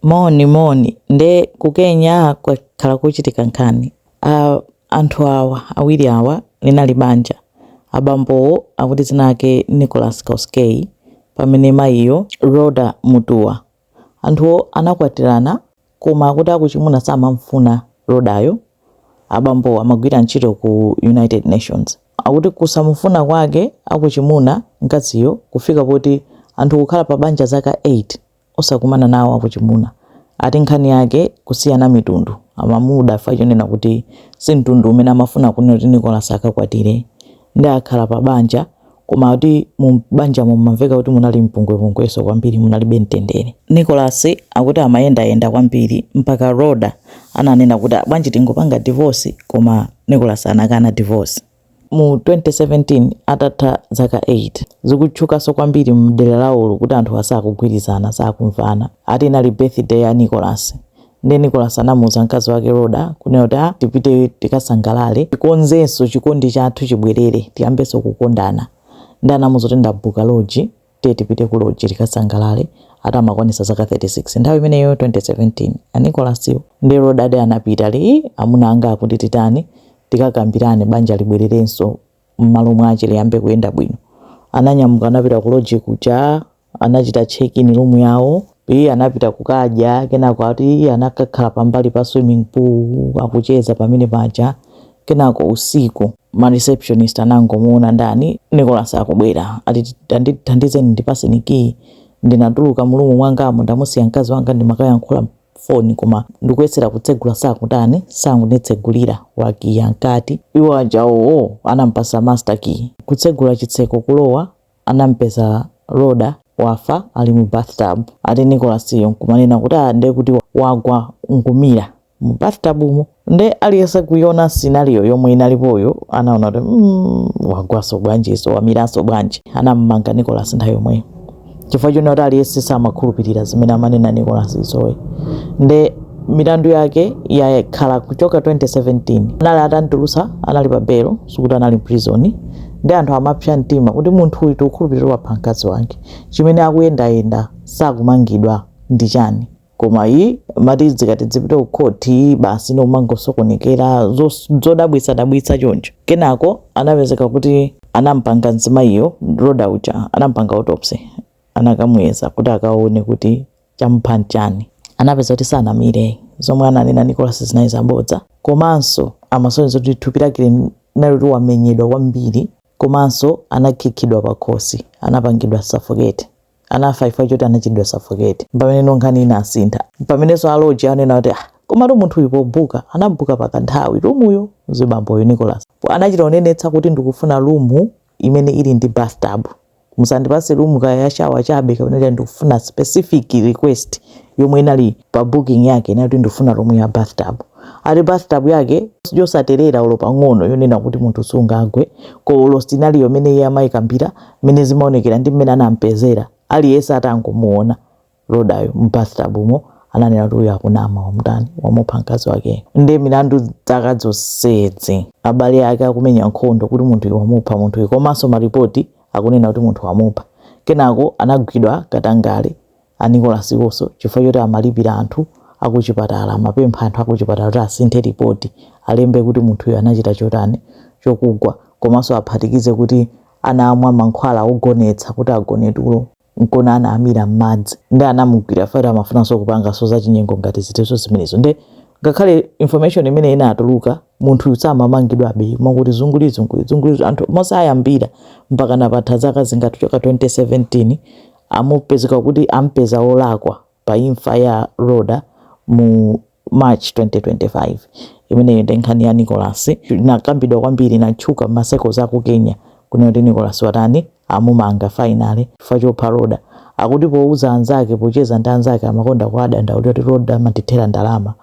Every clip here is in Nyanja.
moni moni nde ku kenya kwakhala kuchitika nkhani ya anthu awa awiri awa linali banja abambowo akuti dzina lake nicholas kosgei pamene mayiyo rhoda mutua anthuwo anakwatirana koma akuti akuchimuna samamfuna rhodayo abambowo amagwira ntchito ku united nations akuti kusamufuna kwake akuchimuna mkaziyo kufika poti anthu kukhala pa banja zaka 8 osakumana nawo akuchimuna ati nkhani yake kusiyana mitundu amamuda chifukwa chonena kuti si mtundu umene amafuna kunena kuti Nicholas akakwatire nde akhala pa banja koma kuti mu banjamo mumamveka kuti munali mpungwepungwenso kwambiri munalibe mtendere. Nicholas akuti amayendayenda kwambiri mpaka Rhoda ananena kuti bwanji tingopanga divorce koma Nicholas anakana divorce. mu 2017 atatha zaka 8. Zikutchukanso kwambiri mdera lawolo kuti anthuwa sakugwirizana, sakumvana. Ati inali birthday ya Nicholas nde Nicholas anamuuza mkazi wake Rhoda kunena kuti ah tipite tikasangalale tikonzenso chikondi chathu chibwerere tiyambenso kukondana nde anamuuza kuti ndabuka lodge Tiye tipite ku lodge tikasangalale, ati amakwanisa zaka 36 nthawi imeneyo 2017 a Nicholas wo nde Rhoda nde anapita ali ii amuna anga akuti titani tikakambirane banja libwererenso mmalo mwache liyambe kuyenda bwino. Ananyamuka anapita ku lodge kuja anachita check in room yawo. Ee anapita kukadya, kenako ati ee anakakhala pambali pa swimming pool akucheza pamene paja, kenako usiku ma receptionist anangomuona ndani Nicholas akubwera, ati tandithandizeni ndipatseni key, ndinatuluka murumu mwangamu ndamusiya mkazi wanga ndimakayankhula foni koma ndikuyesera kutsegula sakutani, sakunditsegulira wakiya mkati iwo aja owoo, anamupatsa master key kutsegula chitseko kulowa, anampeza Rhoda wafa ali mu bathtub ati Nicholas yo nkumanena kuti ah nde kuti wagwa nkumira mu bathtubmu nde aliyese kuiona scenario yomwe inalipoyo anaona kuti mm, wagwaso bwanjiso wamiraso bwanji anammanga Nicholas nthawi yomweyo chifukwa chonena kuti aliyese samakhulupirira zimene amanena Nicholas zo nde milandu yake yakhala kuchoka 2017 anali atantulusa anali pa belo sikuti anali mu prison nde anthu amapsa mtima kuti munthu uyu tikukhulupirira wapha mkazi wake chimene akuyendayenda sakumangidwa ndi chani koma ee amati zikati zipite kukhoti basi nomangosokonekera zodabwitsadabwitsa choncho kenako anapezeka kuti anampanga mzimayiyo rhoda uja anampanga autopsy anakamuyeza kuti akaone kuti chamupha nchani? Anapeza kuti sanamire, zomwe ananena Nicholas zinali zabodza komanso amasonyeza kuti thupi lake linali kuti wamenyedwa kwambiri komanso anakhikhidwa pakhosi, anapangidwa suffocate. Anafa chifukwa choti anachitidwa suffocate. Mpameneno nkhani inasintha. Mpamenenso a lodge ananena kuti ah, komatu munthu uyu pobuka, anabuka pakanthawi, room yo, mzibamboyu Nicholas, anachita kunenetsa kuti ndikufuna room imene ili ndi bathtub. Musandipatse room kaya ya shower chabe kapena ndikufuna specific request yomwe inali pa booking yake inali kuti ndikufuna room ya bathtub. Ati bathtub yake yosaterera olo pang'ono yonena kuti munthu sungagweko olo scenario imene iye amayikambira mmene zimaonekera ndi mmene anampezera aliyense atangomuona Rhodayu mu bathtub mo ananena kuti uyu akunama wamutani wamupha mkazi wake nde milandu zaka zonsezi abale ake akumenya nkhondo kuti munthuyu wamupha munthuyu komanso ma report akunena kuti munthu wamupha kenako anagwidwa katangale a Nicholas iwonso chifukwa choti amalipira anthu akuchipatala amapempha anthu akuchipatala kuti asinthe report alembe kuti munthuyu anachita chotani chokugwa komanso aphatikize kuti anamwa mankhwala ogonetsa kuti agone tulo nkona anamira mmadzi nde anamugwira fire amafunanso kupanganso za chinyengo ngati zitezo zimenezo nde ngakhale information imene inatuluka munthu samamangidwabe mwakuti zunguli zunguli zunguli anthu mosiya moyambira mpaka panapatha zaka zingati kuchoka 2017 amupezeka kuti ampeza olakwa pa imfa ya Rhoda mu March 2025, Imeneyo nde nkhani ya Nicholas inakambidwa kwambiri inatchuka mma circles aku Kenya kunena kuti Nicholas watani? amumanga finally chifukwa chopha Rhoda. Akuti pouza anzake pocheza ndi anzake amakonda kuwadandaulira kuti Rhoda amandithera ndalama,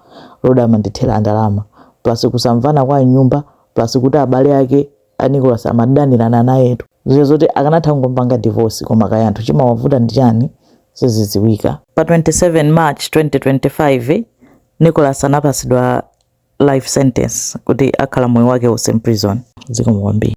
Rhoda amandithera ndalama plus kusamvana kwa mnyumba plus kuti abale ake a Nicholas amadanirana nayetu zija zoti akanatha kungompanga divorce koma kaya anthu chimawavuta ndi chani sizidziwika pa 27 march 2025 Nicholas anapasidwa life sentence kuti akhala moyo wake wonse mprison zikomo kwambiri